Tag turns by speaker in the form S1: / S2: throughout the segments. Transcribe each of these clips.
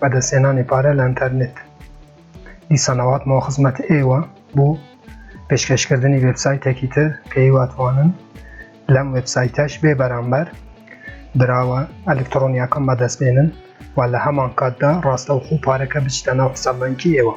S1: بەدەستهێنانی پارە لە ئەنتەرنێت دیسان ئەواتمەوە خزمەت ئێوە بۆ پێشکەشکردنی وبسایتێکی تر کە هیواتوانن لەم وبسایتەش بێ بەرامبەر براوە ئەلکترۆنیەکەم بەدەست بێنن و لە هەمان کاتدا ڕاستەوخۆ پارەکە بچتە ناو حسابەنکی ئێوە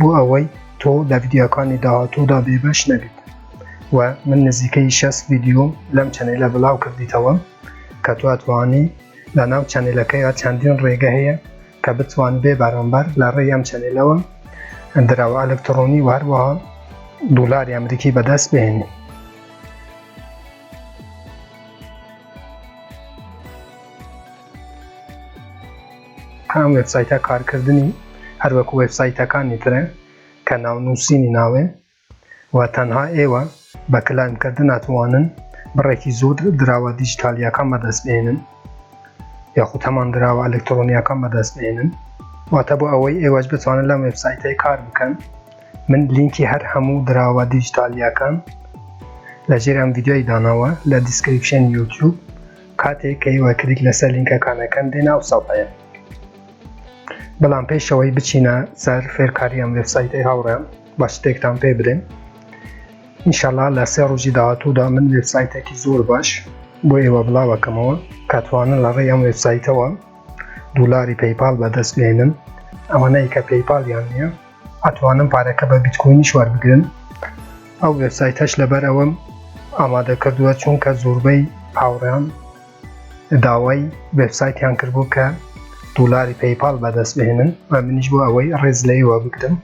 S1: بۆ ئەوەی تۆ لە ڤیدیۆکانی داهاتوودا بێبەش نەبیت و من نزیکەی شەست ڤیدیۆم لەم چەنێلە بڵاو کردیتەوە کە تواتوانی لە ناو چەنێلەکەیە چەندین ڕێگە هەیە کە بتوان بێ بەرامبەر لە ڕێی ئەم چەنێلەوە دراوە ئەلکترۆنی و هەروەها دولاری ئەمریکی بەدەست بهێنی ئەم وێبسایتە کارکردنی هەر وەک وێبسایتەکانی ترە کە ناونووسینی ناوێ و تەنها ئێوە بە کلایم کردن ئەتوانن بڕێکی زۆر دراوە دیجیتالییەکان بەدەست بهێنن یاخود هەمان دراوە ئەلکترۆنییەکان بەدەست بهێنن واتە بۆ ئەوەی ئێوەش بتوانن لەم وێبسایتەی کار بکەن من لینکی هەر هەموو دراوە دیجیتالییەکان لە ژێر ئەم ڤیددیۆی داناوە لە دیسکریپشن یوتیوب کاتێک ئێوە کلیک لەسەر لینکەکان ئەکەن دێنە ئەو سەفحەیە بەڵام پێشەوەی بچینە سەر فێرکاری ئەم وێبسایتەی هاوڕێم بە شتێکتان پێ بدەین ئینشاءاللە لە سێ ڕۆژی داهاتوودا من وێبسایتێکی زۆر باش بۆ ئێوە بڵاوەکەمەوە کاتوانن لە ڕێی ئەم وێبسایتەوە دولاری پەیپال بەدەست بێنن ئەوانەی کە پەیپالیان نییە ئەتوانن پارەکە بە بیتکۆینیش وەربگرن ئەو وێبسایتەش لەبەر ئەوەم ئامادە کردووە چونکە زۆربەی هاوڕێیان داوای وێبسایتیان کردبوو کە دولاری پەیپال بەدەست بهێنن و منیش بۆ ئەوەی ڕێز لە ئێوە بگرم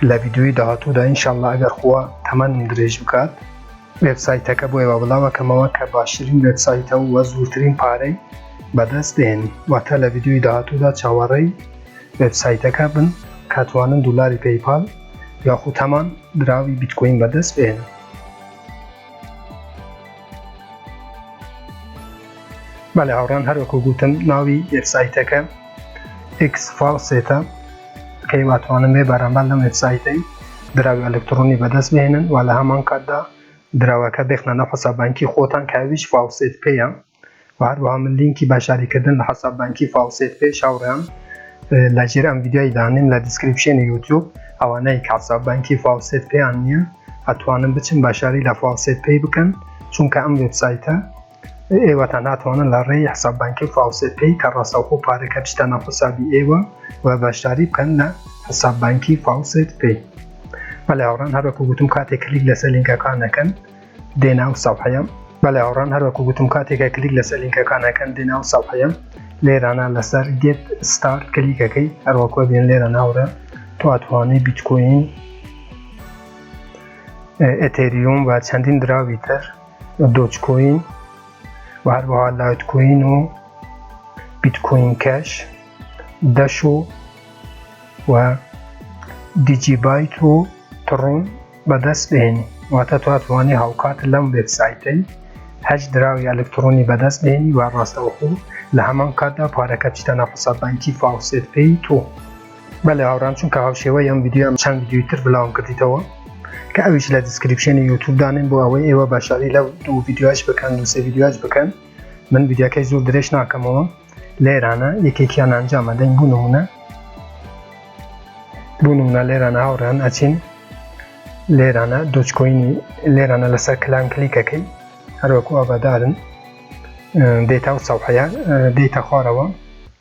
S1: لە ڤیددیوی داهاتوودا ئینشاءاللە ئەگەر خوا تەمەنم درێژ بکات وێبسایتەکە بۆ ئێوە بڵاوەکەمەوە کە باشترین وێبسایتە و وە زوورترین پارەی بەدەست دێنی واتە لە ڤیدیۆی داهاتوودا چاوەڕێی وێبسایتەکە بن کاتوانن دولاری پەیپال یاخود هەمان دراوی بیتکۆین بەدەست بێنن بەڵێ هاوڕان هەروەکو گوتم ناوی وێبسایتەکە ئکس فاڵسێتە کەی واتوانن بێ بەرامبەر لەم وێبسایتەی دراوی ئەلکترۆنی بەدەست بهێنن و لە هەمان کاتدا دراوەکە بخنە ناو حساب بانکی خۆتان کە ئەویش فاوسێت پەیە و هەروەها من لینکی بەشداری کردن لە حساب بانکی فاوسێت پێ شاوڕێیان لە ژێر ئەم ڤیدیۆی دانیم لە دیسکریپشنی یوتیوب ئەوانەی کە حساب بانکی فاوسێت پێیان نییە ئەتوانن بچن بەشداری لە فاوسێت پێی بکەن چونکە ئەم وێبسایتە ئێوەتان ناتوانن لە ڕێی حساب بانکی و فاوسێت پەی کە ڕاستەوخۆ پارەکە بچتە ناو حسابی ئێوە و بەشداری بکەن لە حساب بانکی فاوسێت پەی بەڵێ هاوڕان هەر وەکو گوتم کاتێک کلیک لەسەر لینکەکان نەکەن دێ ناو سەفحەیە بەڵێ هاوڕان هەر وەکو گوتم کاتێکە کلیک لەسەر لینکەکان نەکەن دێ ناو سەفحەیە لێرانە لەسەر گێت ستار کلیکەکەی هەروەکو بێن لێرە ناورە تو ئەتوانی بیتکۆین ئەتێریوم و چەندین دراوی تر دۆجکۆین و هەروەها لایتکۆین و بیتکۆین کەش دەش و و دیجیبایت و تڕون بەدەست بێنی واتە تواتوانی هاوکات لەم وێبسایتەی هەش دراوی ئەلکترۆنی بەدەست بێنی و ڕاستەوخۆ لە هەمان کاتدا پارەکە بچتە ناو حساب بانکی فاوسێت پێی تۆ بەلێ هاوڕام چونکە هاوشێوەی ئەم ڤیدیۆم چەند ڤیدیۆی تر بلاوم کردیتەوە کە ئەویش لە دیسکریپشنی یوتوب دانێن بۆ ئەوەی ئێوە باشاری لەو دوو ڤیدیۆش بکەن و سێ ڤیدیۆش بکەن من ڤیدیۆکەی زۆر درێژ ناکەمەوە لێرانە یەکێکیان ئەنجامە دەنگ بوو نمونە بوو نمونە لێرانە هاوڕان ئەچین لێرانە دۆچکۆینی لێرانە لەسەر کلان کلیکەکەی هەروەکو ئابادارن دێتا و سەحەیە دێتە خوارەوە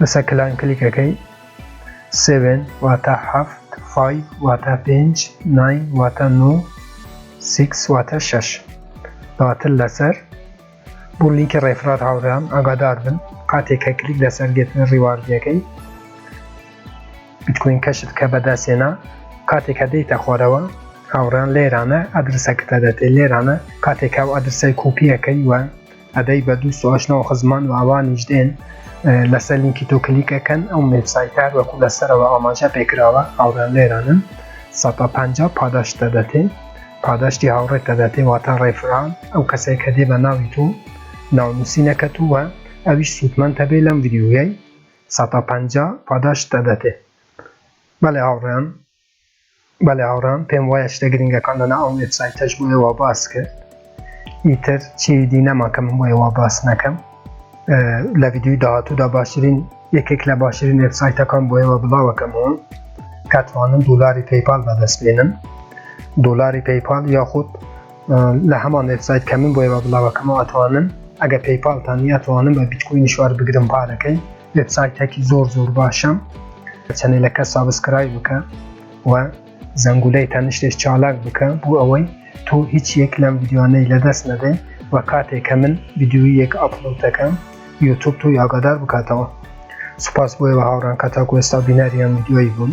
S1: لەسەر کلان کلیک ئەکەی سێڤێن واتە هەفت فایڤ واتە پێنج ناین واتە نۆ سیکس واتە شەش دواتر لەسەر بۆ لینکی ڕێفرار هاوڕێیان ئاگادار بن کاتێک کە کلیک لەسەر گرتنە ڕیواردیەکەی بیتکۆین کەشت کە بەدەستێنا کاتێک کە دەیتە خۆرەوە هاوڕان لێرانە ئەدرسەکەتە دەتێ لێرانە کاتێکا و ئەدرسای کوپیەکەی وە ئەدەی بە دوو سوئاش ناو خزمان و ئەوانیش دێن لەسەر لینکی تۆ کلیک ئەکەن ئەو وێبسایتە هەر وەکو لەسەرەوە ئاماژە پێ کراوە هاوڕێیان لێرانن سەد و پەنجا پاداشت دەدەتێ پاداشتی هاوڕێت دەدەتێ واتە ڕێفران ئەو کەسەی کە دێ بە ناوی تۆ ناونووسینەکەت و ئەویش سوودمەند هەبێ لەم ڤیدیۆیەی سەد و پەنجا پاداشت دەدەتێ بەڵێ هاوڕێیان بەڵێ هاوڕام پێم وایە شتە گرنگەکان لەنا ئەم وێبسایتەش بۆیە وا باس کرد ئیتر چیوی دی نەما کە من بۆیە وا باس نەکەم لە ویددیوی داهاتوودا باشترین یەکێک لە باشترین وێبسایتەکان بۆیەوە بڵاوەکەمەوە کاتوانن دولاری پەیپال بەدەست بێنن دولاری پەیپال یاخود لە هەمان وێبسایت کە من بۆیەوە بڵاوەکەمەوە ئەتوانن ئەگە پەیپالتان یاتوانن بە بیتکوین شوار بگرم پارەکەی وێبسایتێکی زۆر زۆر باشە چەنێلەکە سابسکرای بکە و زەنگولەی تەنیشتێش چالاک بکە بۆ ئەوەی تۆ هیچ یەک لەم ویددیوانەی لەدەست نەدەین و کاتێکە من ویددیوی یەک ئەپلۆت دەکەم یوتوب تۆ یاگادار بکاتەوە سوپاس بۆیەوە هاوڕان کە تاکو ئێستا بینەریان ویددیوی بوون